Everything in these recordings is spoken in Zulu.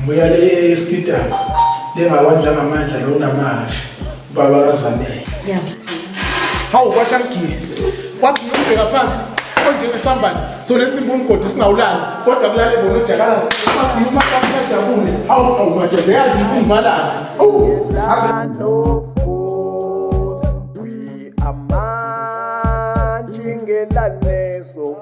Mbuya le esikidana lengawandla ngamandla lo namanje ubaba kazanele. Hawu kwasha mgiye. Kwathi ngibheka phansi onjengesambane so lesimba umgodi singawulali kodwa kulale bona ujakalazi kwathi uma kwathi jabule hawu hawu madoda yazi ukungibalala. Oh. Amanje ngelane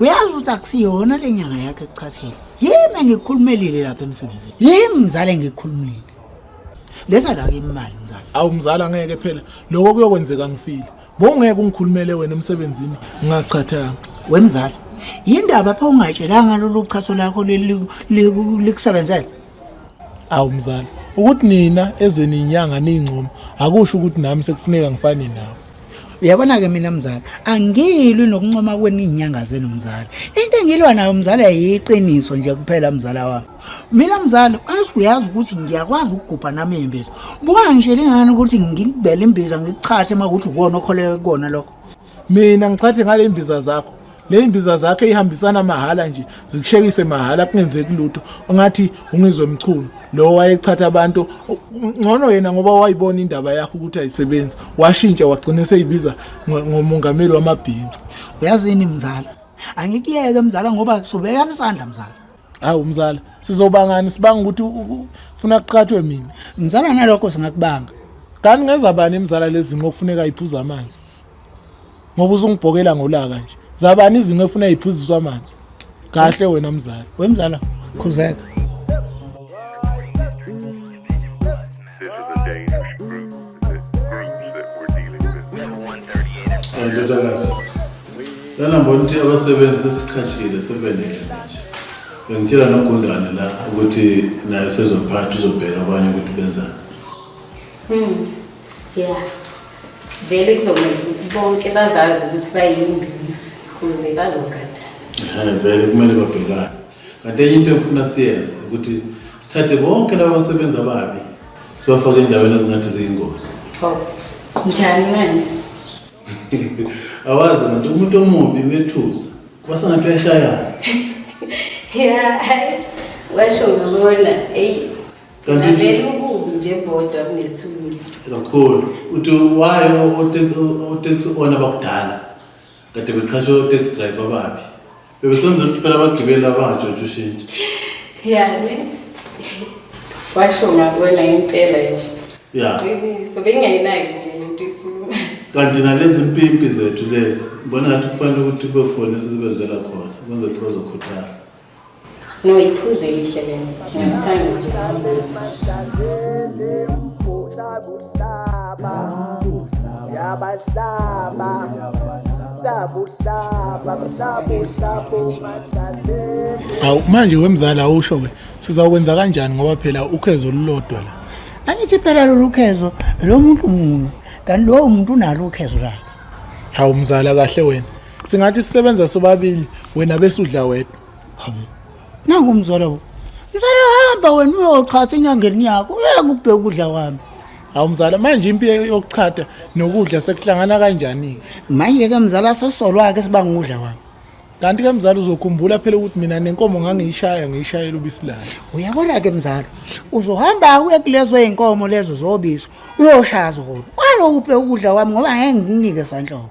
uyazi ukuthi akusiyona le nyanga yakhe kuchathela yimi engikhulumelile lapha emsebenzini yimi mzala engikhulumile lesa la imali mzala awu mzala ngeke phela lokho kuyokwenzeka ngifile bongeke ungikhulumele wena emsebenzini ngingachathanga wemzala yindaba pha ungatshelanga lolu chaso lakho likusebenzela awu mzala ukuthi nina ezeninyanga ningcomo akusho ukuthi nami sekufuneka ngifane nawe uyabona-ke mina mzala angilwi nokuncoma kweni iy'nyanga zenu mzala into engilwa nayo mzala yiqiniso nje kuphela mzala wami mina mzala azi uyazi ukuthi ngiyakwazi ukugubha nami iy'mbiza buka ngishe lingani ukuthi ngikubele imbiza ngikuchathe uma kuthi ukona okholeke kukona lokho mina ngichathe ngale imbiza zakho leyimbiza zakhe ihambisana mahhala nje zikushekise mahhala kungenzeki lutho ongathi ungizwe mchunu lo wayechatha abantu ngcono yena ngoba wayibona indaba yakho ukuthi ayisebenzi washintsha wagcina seyibiza ngomongameli wamabhinca uyazini mzala angikuyeke mzala ngoba sobeka isandla mzala hawu mzala sizobangani sibanga ukuthi ufuna kuqhathwe mina mzala nalokho singakubanga kanti ngenza bani imzala lezimo okufuneka iphuza amanzi ngoba uzungibhokela ngolaka nje zabani izinto efuna iphuziswa amanzi kahle wena mzala wemzala khuzeka This is a dangerous group, the groups that we're dealing with. Ndodakazi, lana mbona ukuthi abasebenzi sesiqhashile sebenele manje. Bengitshela nogundane la ukuthi naye sezophatha uzobheka abanye ukuthi benzani. Hmm. Yeah. Vele kuzomele ukuthi bonke bazazi ukuthi bayinduna kuze bazogada. Eh vele kumele babhekane. kanti enye into engifuna siyenze ukuthi sithathe bonke laba basebenzi ababi sibafake endaweni ezingathi ziyingozi oh, njani manje awazi nganti umuntu omubi uyethusa kuba sengathi uyashayana ya washo ngibona eyi kanti ububi nje bodwa kunesithuluzi kakhulu uthi wayo otaxi ona bakudala kade beqhashe otaxi driver ababi Bebesenza ukuthi phela abagibeli abangatshontsha ushintshi. Yani. Washo ngakwela impela nje. Ya. Qiniso bengayinayo nje lento ikhuluma. Kanti nalezi mpimpi zethu lezi, ngibona ngathi kufanele ukuthi kube khona esizibenzela khona ukuze phela bazokhuthala. No, iphuzo elihle lelo. Ngiyamthanda nje. Yabahlaba. Awu manje wemzali awusho ke sizawukwenza kanjani ngoba phela ukhezo olulodwa la. Angithi phela lolu khezo lo muntu munye kanti lowo muntu unalo ukhezo lakhe. Hawu mzala kahle wena. Singathi sisebenza sobabili wena bese udla wedwa. nangu mzala wo mzala hamba wena uyochata enyangeni yakho uyeke ukubheka ukudla kwami hawu mzala manje impi yokuchata nokudla sekuhlangana kanjani-ke manje-ke mzala sesolwa-ke sibanga ukudla kwami kanti-ke mzala uzokhumbula phela ukuthi mina nenkomo ngangiyishaya ngiyishayela ubisi layo uyabona-ke mzala uzohamba uye kulezo y'nkomo lezo zobisi uyoshaya zona kwalokhu ubheka ukudla kwami ngoba ngeke ngikunike sanhloko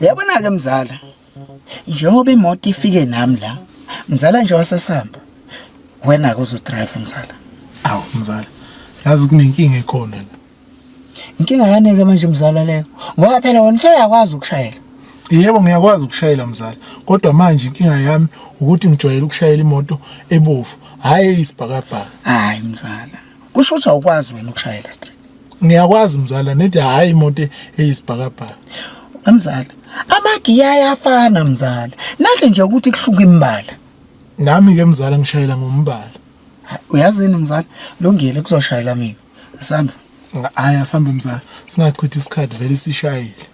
Yabona ke mzala. Njengoba imoto ifike nami la, mzala nje wasesihamba. Wena ke uzodrive mzala. Awu mzala. Yazi kunenkinga ekhona la. Inkinga yani ke manje mzala leyo. Ngoba phela wena useyakwazi ukushayela. Yebo ngiyakwazi ukushayela mzala kodwa manje inkinga yami ukuthi ngijwayele ukushayela imoto ebovu hhayi eyisibhakabhaka. Hayi mzala. kusho ukuthi awukwazi wena ukushayela straight ngiyakwazi mzala nithi hayi imoto eyisibhakabhaka mzala amagiya ayafana mzala nahle nje ukuthi kuhluka imbala nami ke mzala ngishayela ngombala uyazini mzala lungile kuzoshayela mina asambe hayi asambe mzala singachithi isikhathi vele sishayile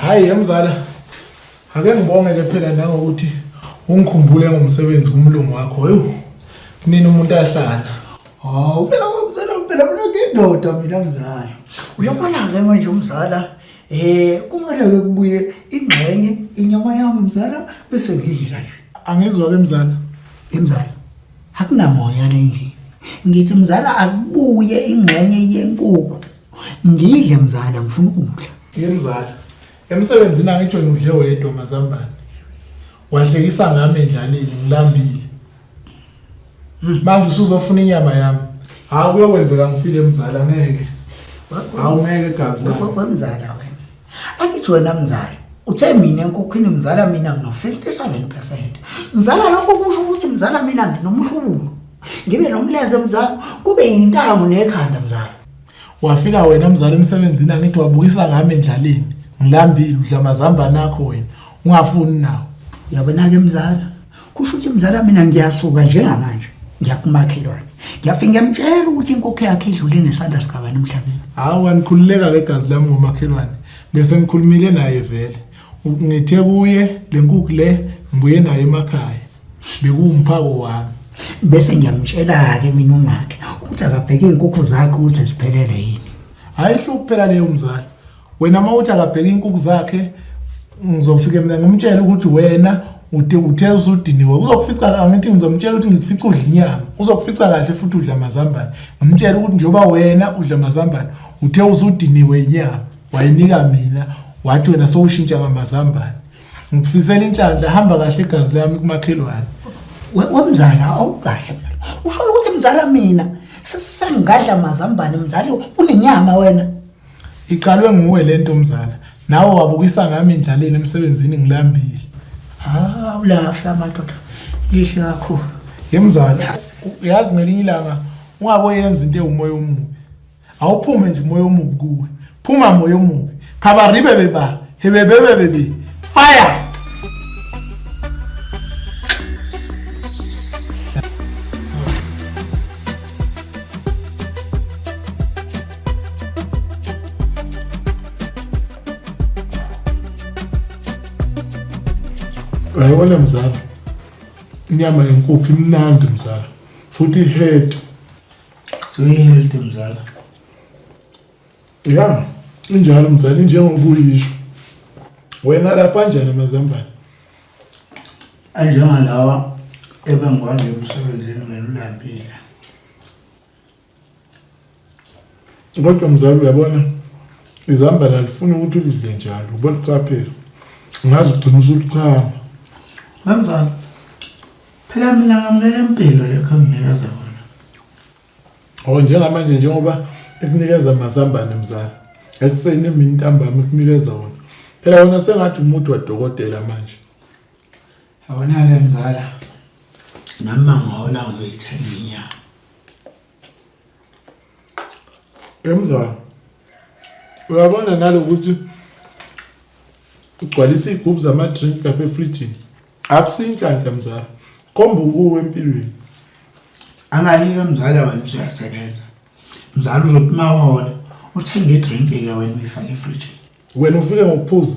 Hayi yemzala. Ake ngibonge ke phela nangokuthi ungikhumbule ngomsebenzi kumlungu wakho. Hayu. Kunini umuntu ahlala. Hawu phela umzala phela mina ngindoda mina mzala. Uyabona ke manje umzala eh kumele ke kubuye ingxenye inyama yami mzala bese ngidla nje. Angizwa ke mzala. Imzala. Akunamoya le nje. Ngithi mzala akubuye ingxenye yenkukhu Ngidle mzala ngifuna ukudla. Yemzala. Emsebenzini angitsho ngidle wedwa mazambane. Wahlekisa ngami endlaleni ngilambile. Manje usuzofuna inyama yami. Hawu kuyokwenzeka ngifile mzala ngeke. Hawu ngeke gazi lami. Wemzala wena. Angithi wena mzala. Uthe mina enkokhwini mzala mina ngino 57%. Mzala lokho kusho ukuthi mzala mina nginomhlubulo. Ngibe nomlenze mzala kube yintango nekhanda mzala. Wafika wena mzali emsebenzini angithi wabukisa ngami endlaleni. Ngilambile udla mazambane akho wena. Ungafuni nawo. Yabona-ke mzala kusho ukuthi mzala mina ngiyasuka njengamanje ngiyakumakhelwane ngiyafike ngiyamtshela ukuthi inkokho yakhe idlule ngesandla sikabani emhlabeni hawu anikhululeka-ke igazi lami ngomakhelwane bese ngikhulumile naye vele ngithe kuye le nkukhu le ngibuye nayo emakhaya bekuwumphako wami bese ngiyamtshela-ke mina umakhe ukuthi akabheke iy'nkukhu zakhe ukuthi ziphelele yini hhayi hlo kuphela leyo mzali wena uma uthi akabheke iy'nkukhu zakhe ngizofike mina ngimtshele ukuthi wena ude uthe usudiniwe uzokufica angithi ngizomtshela ukuthi ngikufica udla inyama uzokufica kahle futhi udla amazambane ngimtshele ukuthi njengoba wena udla amazambane uthe usudiniwe inyama wayinika mina wathi wena sowushintsha ngamazambane ngikufisela inhlanhla hamba kahle igazi lami kumakhelwane wemzala awukahle usho ukuthi mzala mina sesangadla mazambane mzali unenyama wena iqalwe nguwe lento mzala nawe wabukisa ngami indlaleni emsebenzini ngilambile ah ulahla amadoda lihle kakhulu yemzala yazi ngelinye ilanga ungaboyenza into ewumoya omubi awuphume nje umoya omubi kuwe phuma moya omubi khabaribe beba hebebebebebe fire Uyabona mzala, inyama yenkukhu imnandi mzala, futhi ihead So you healthy mzala. Yeah, injalo mzala injengoba uyisho. Wena lapha kanjani amazambane? Anjengalawa ebengikwazi emsebenzini ngelulambile. Kodwa mzala uyabona izambane alifuni ukuthi ulidle njalo. Ubona uqaphela. Ngazi ugcina usulichama. Mamzala. Phela mina ngamukela impilo lekho enginikeza kona. Oh njengamanje njengoba ekunikeza amazambane mzala. Ekuseni emini ntambama ekunikeza wona. Phela wona sengathi umuntu wadokotela manje. Awona-ke mzala nami mangihola ngizoyithenga inyama Emzwa. Uyabona nalokuthi ugcwalisa iy'gubhu zama-drink lapha efrijini akusinhlanhla mzala khomba ukuwe empilweni angalike mzala wena usuyasebenza mzala uzothi uma wola uthenge idrink-ke wena uyifake efrijini wena ufike ngokuphuza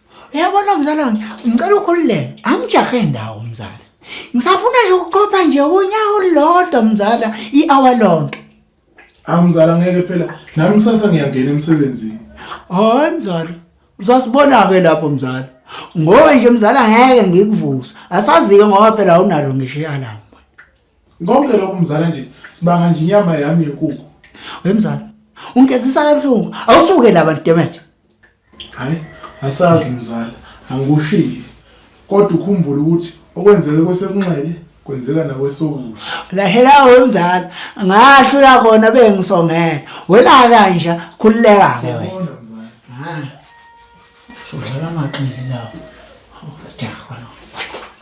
uyabona mzala wami ngicela ukhululeke angijahe ndawo mzala ngisafuna nje ukuqopha nje unyawo olulodwa mzala i-hour lonke awu mzala ngeke phela nami kusasa ngiyangena emsebenzini hayi mzala uzasibona-ke lapho mzala ngoba nje mzala ngeke ngikuvusa asazi-ke ngoba phela awunalo ngisho i-alarm konke lokho mzala nje sibanga nje inyama yami yenkukhu we mzala ungigezisa kabuhlungu awusuke laba ntemethe Hayi, asazi mzala, angikushiyi. Kodwa ukhumbule ukuthi okwenzeke kwesekunxele kwenzeka nakwesokudla. Lahela wemzala, ngasho uyakhona bengisongela. Wena kanje khululeka ke. Siyabona mzala. Hayi. Sudlala amaqili lawo. Awujaha lo.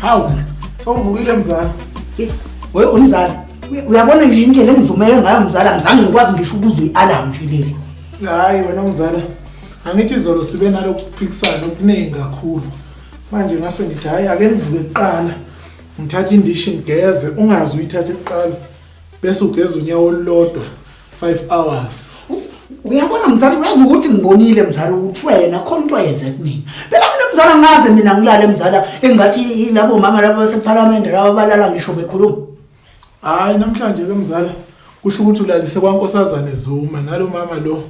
Hawu, songivukile mzala. We umzala, uya- uyabona nje indlela engizumele ngayo mzala ngizange ngikwazi ngisho ukuzwa i-alarm nje leli. Hayi wena mzala. Angithi izolo sibe nalokhu kuphikisana okuningi kakhulu. Manje ngase ngithi hayi ake ngivuke kuqala. Ngithathe indishi ngigeze, ungazi uyithathe kuqala. Bese ugeza unyawo olulodwa. 5 hours uyabona mzali uyazi ukuthi ngibonile mzali ukuthi wena khona into yenze kumina phela mina mzali angaze mina ngilale mzala engathi labo mama labo basephalamende labo balala ngisho bekhuluma hayi namhlanje ke mzala kusho ukuthi ulalise kwankosazane zuma nalo mama lo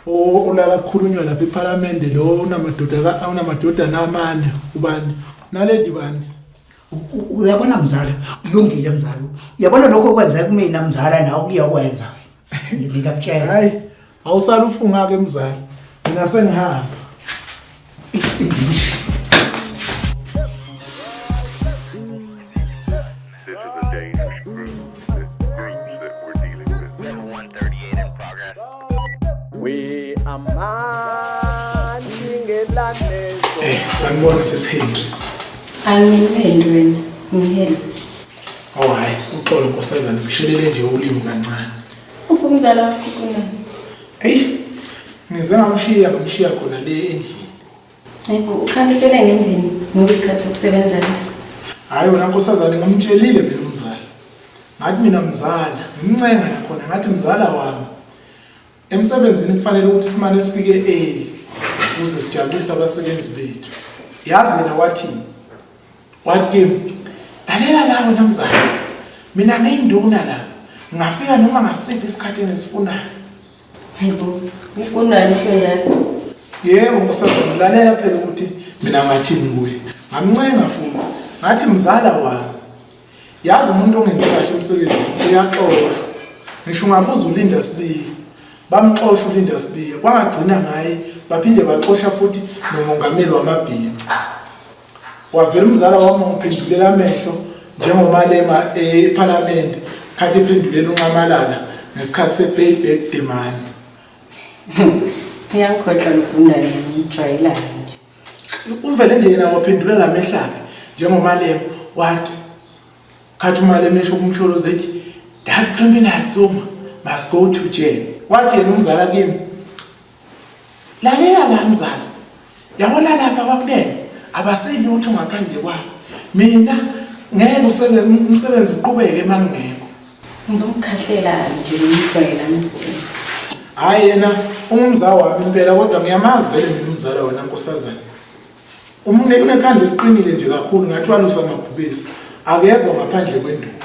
olala kukhulunywa lapha ephalamende lo unamadoda unamadodana amane ubani naledi bani uyabona mzala kulungile mzala uyabona lokho okwenzeka kumina mzala nawe kuyokwenza wena ngikakutshela hayi awusalufunga ke mzala mina sengihamba We are man ingelanezo. Eh, sanibona sesihindi. Angimeli wena, ngiheli. Oh hayi, uxolo nkosazana kushelele nje ulimu kancane. Uphi umzala wakho kunani? Hey, ngize ngamshiya ngamshiya khona le endlini. Hayibo, ukhamisele ngendlini ngoba isikhathi sokusebenza lesi. Hhayi wena nkosazane ngimtshelile mina umzala. Ngathi mina mzala, ngimncenga nakhona ngathi mzala wami. Emsebenzini kufanele ukuthi simane sifike early ukuze sijabulise abasebenzi bethu. Yazi yena wathini? Wathi kimi, lalela la wena mzala. Mina ngiyinduna la. Ngingafika noma ngasiphi isikhathi engisifunayo. Yebo, kunani phela. Yebo msazana, lalela phela ukuthi mina ngathini kuye. Ngamncenga futhi ngathi mzala wami. Yazi umuntu ongenzi kahle umsebenzi uyaxoshwa. Ngisho ungabuza ulinda sibili. Bamxosha ulinda sibili. Kwangagcina ngaye baphinde baxosha futhi nomongameli wamabhinca. wavela umzala wami ngiphendulela amehlo njengomalema ephalamende khathi ephendulela unqamalala ngesikhathi se-payback demand ngiyangikhohlwa lubhundane ngiyijwayelane nje uvele nje yena waphendulela amehlakhe njengomalema wathi khathi umalema esho kumhlolo zethi that criminal soma must go to jail wathi yena umzala kimi lalela la mzala yabona lapha kwakulele abaselutho ngaphandle kwabo mina ngeke umsebenzi uqhubeke emangingekho ngizomkhahlela nje ngimjwayela mfuni hhayi yena ungumzala wami impela kodwa ngiyamazi vele mina umzala wena nkosazana unekhanda eliqinile nje kakhulu ngathi walusa amabhubesi akezwa ngaphandle kwenduku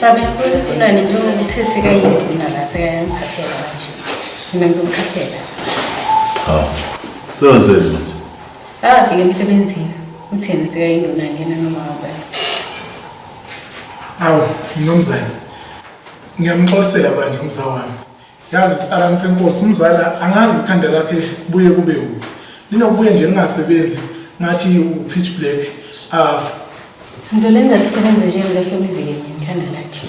Baba kunani njengokuthi sekayini mina la sekayangiphathela manje. Mina ngizomkhahlela. Hawu. Sewenzeni manje? Akafike emsebenzini. Uthini sekayinduna ngena noma wabenza. Awu, mnumzane. Ngiyamxolisela manje umzawami. Yazi Salam senkosi umzala angazi ikhanda lakhe kubuye kube u. Linokubuye nje lingasebenzi ngathi u pitch black ave. Ngizolenza lisebenze nje kuleso mizike ngikhanda lakhe.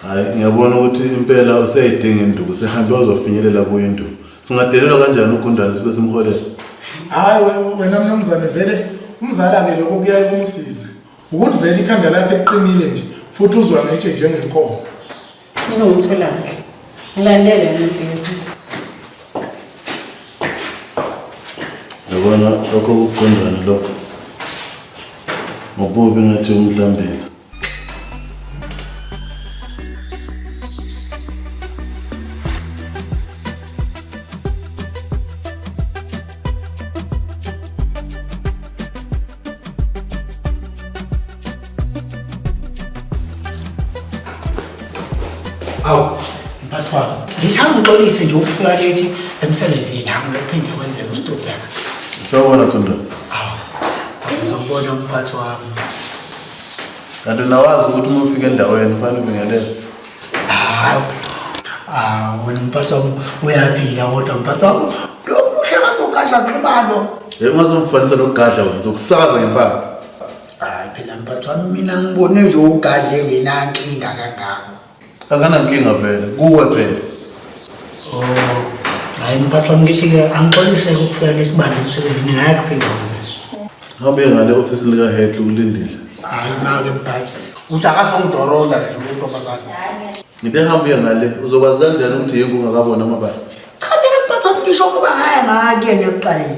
Hayi ngiyabona ukuthi impela useyidinga induku sehambe ozofinyelela kuyo induku. Singadelelwa kanjani ugundane sibe simholela? Hayi we- wena mnumzane vele umzala ke lokho kuyaye kumsize. Ukuthi vele ikhanda lakhe liqinile nje futhi uzwa ngetshe njengenkomo. Uzongithola kahle. Ngilandele ngibheke. Yabona lokho kuqondana lokho. Ngobubi ngathi umhlambile. Awu, mphathi wami, ngishaya ngixolise nje ukufika lethi emsebenzini nami uphinde kwenzeka usitobheka. Sawubona Thundela. Awu, ngizobona umphathi wami. Kanti nawazi ukuthi uma ufika endaweni ufanele ubingelele. Hawu. Ah, wena mphathi wami uyaphila kodwa mphathi wami lo musha ngazogadla xibalo. Hey, ungazomfanisa nokugadla wena, uzokusakaza ngempama. hayi phela mphathi wami mina ngibone nje ugadle ngenankinga kangako akanankinga vele kuwe phela oh hayi mphathi wami ngithi-ke angixoliseke ukufika lesibanda emsebenzini ngaya kuphinda kwenza ngabe ngale ofisi likahetle ukulindile hayi make mphathi uthi akasongidorola nje untombazane ngide hambe uye ngale uzokwazi kanjani ukuthi yingu ungakabona amabala cha mina mphathi wami ngisho ukuba ngaya ngakuyena ekuqaleni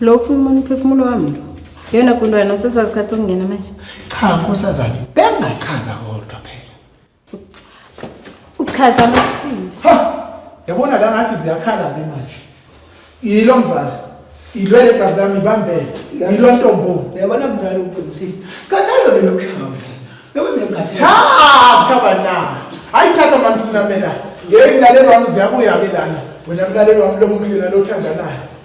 Lo ufuna umuntu umphefumulo wami lo. Yona kuntwana sesasikhathi sokungena manje. Cha nkosazane, bengachaza kodwa phela. Uchaza amasini. Ha! Yabona la ngathi ziyakhala ke manje. Yilo mzala. Ilwele gazi lami ibambele. Yilo ntombo. Yabona mzala uqinisile. Kasalo ke lokushaya. Lobe ngengathi. Cha, cha bana. Hayi thatha mamsinamela. Ngeke ngilalelwa mzi yabuya ke lana. Wena mlalelwa mlomuhle nalothandanayo.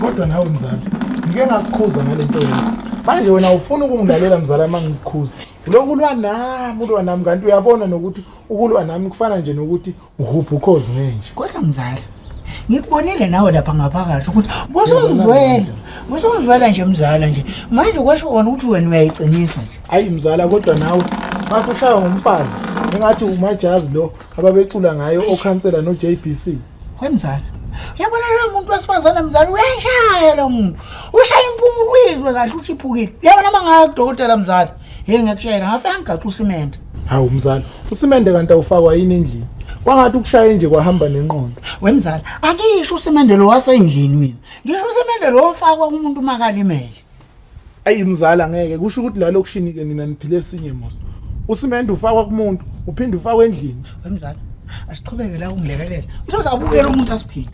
kodwa nawe mzala ngike ngakukhuza ngale nto yakho manje wena ufuna ukungilalela mzala uma ngikukhuza lokhu ulwa nami ulwa nami kanti uyabona nokuthi ukulwa nami kufana nje nokuthi uhupha ukhozi ngenje kodwa mzala ngikubonile nawe lapha ngaphakathi ukuthi busungizwela busungizwela nje mzala nje manje kwasho kona ukuthi wena uyayiqinisa nje hayi mzala kodwa nawe mase ushaywa ngumfazi engathi umajazi lo ababecula ngayo okhansela no JBC wemzala uyabona lo muntu wesifazane mzala uyashaya lo muntu ushaya impumulo uyizwe kahle uthi iphukile uyabona uma ngaya kudokotela mzala Hey ngiyakutshela ngafika ngigaxa usimende. Hawu mzala, usimende kanti awufakwa yini endlini? Kwangathi ukushaye nje kwahamba nenqondo. Wemzala, angisho usimende lo wasendlini mina. Ngisho usimende lo ofakwa kumuntu uma kalimele. Ayi mzala ngeke kusho ukuthi la lokushini ke nina niphile esinye mos. Usimende ufakwa kumuntu, uphinde ufakwe endlini. Wemzala, asiqhubeke la ungilekelela. Usoze abukele umuntu asiphinde.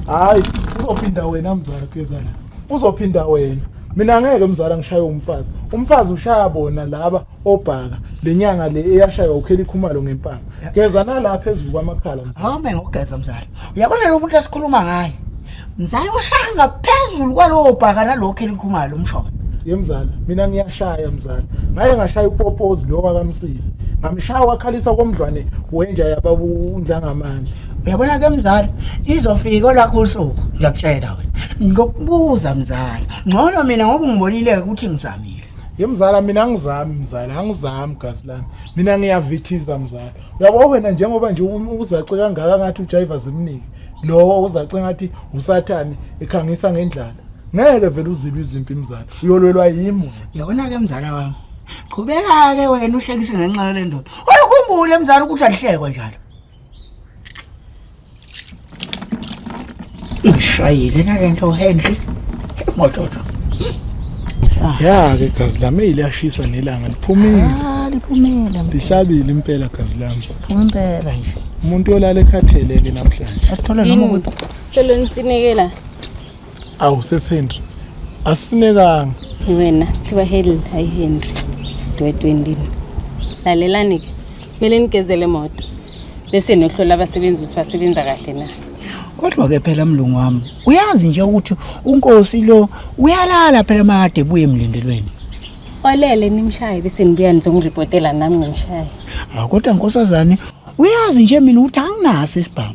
Hayi, uzophinda wena mzala Gezana. Uzophinda wena. mina ngeke mzala ngishaye umfazi umfazi ushaya bona laba obhaka lenyanga le eyashaywa ukheli khumalo ngempama geza nala phezulu kwamakhala mzala hawu mina ngogeza mzala uyabona lo muntu esikhuluma ngaye mzala ushaya ngaphezulu kwalowo bhaka nalowo kheli khumalo umshona ye mzala mina ngiyashaya mzala ngaye ngashaya upopozi lo wakamsile ngamshaya wakhalisa komdlwane wenja yababa undlangamandla uyabona ke mzala izofika olakho usuku ngiyakutshela wena ngokubuza mzala ngcono mina ngoba ungibonile ukuthi ngizamile ye mzala mina angizami mzala angizami gazi lami mina ngiyavithiza mzala uyabo wena njengoba nje uzace kangaka ngathi ujayiva zimnike lowo uzace ngathi usathane ekhangisa ngendlala ngeke vele uzibe izimpi mzala uyolwelwa yimo yabona ke mzala wami qhubeka ke wena uhlekise ngenxa yale ndoda uyakhumbula mzala ukuthi alihlekwa njalo Ishayile na lento uHenry. Moto. Ya ke gazi lami iliyashisa nelanga liphumile. Ah liphumile. Lihlabile impela gazi lami. Impela nje. Umuntu olala ekhathelele namhlanje. Asithole noma ukuthi selweni sinekela. awu sesehenry asisinekanga wena kuthiwa heli hayi henry sidwedwendini lalelani-ke kumele nigezele moto bese nohlola abasebenzi ukuthi basebenza kahle na kodwa-ke phela mlungu wami uyazi nje ukuthi unkosi lo uyalala phela makade ebuye emlindelweni olele nimshaye bese nibuya nizongiripotela nami ngimshaye kodwa nkosazane uyazi nje mina ukuthi anginaso isibhamu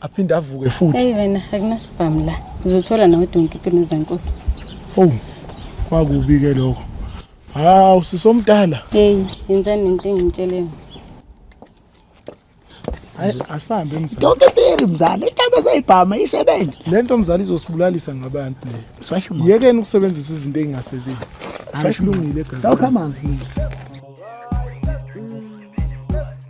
aphinde avuke futhi hey wena akunasibhamu la uzothola nawe donke impilo zenkosi oh kwakubi ke lokho hawu sisomdala hey yenzani into engitsheleni asambe mzali donke teri mzali intaba zayibhama isebenze lento mzali izosibulalisa ngabantu le yekeni ukusebenzisa izinto engasebenzi asilungile gazi awukhamanzi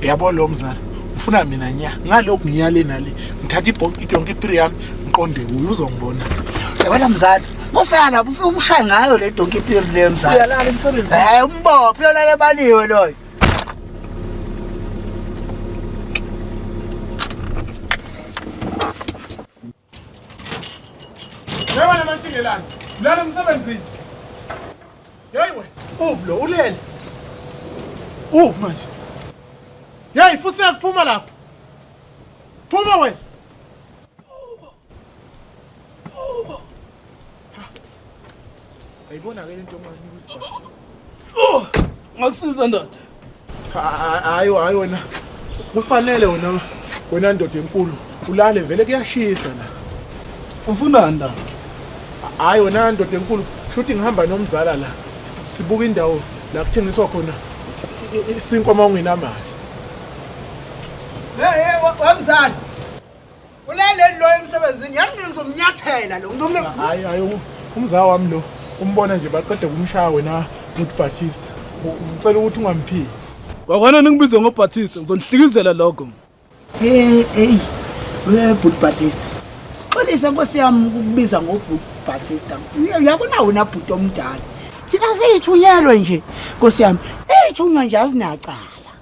yabo lo mzala ufuna mina nya ngalokhu ngiyale nale ngithatha idonki ipiri yami ngiqonde kuyo uzongibona yabona mzala mufika lapho ufike umshaye ngayo le donki ipiri le mzala uyalala emsebenzini hayi umbophe uyolala ebaliwe loyo Njengoba namantshingelane, lana emsebenzini. Yeyi wena, uphi lo ulele? Uphi manje? Yeyi fuseka phuma lapho. Phuma wena. Ayibona ke lento manje kusibaba. Oh! Ngakusiza ndoda. Hayi hayi wena. Kufanele wena wena ndoda enkulu ulale vele kuyashisa la. Ufuna nda? Hayi wena ndoda enkulu shuthi ngihamba nomzala la. Sibuka indawo la kuthengiswa khona isinkwa uma ungenamali. Hey hey wamzala. Ulaleli lo emsebenzini yami mina ngizomnyathela lo. Ngizomne Hayi hayi umzaa wami lo. Umbona nje baqede kumshaya wena uthi Batista. Ngicela ukuthi ungamphiki. Wakwana ningibize ngo Batista ngizonihlikizela lokho. Hey hey. We Bhut Batista. Sixolise nkosi yami ukukubiza ngo Bhut Batista. Uyabona wena bhuti omdala. Thina siyithunyelwe nje nkosi yami. Eyithunywa nje azinacala.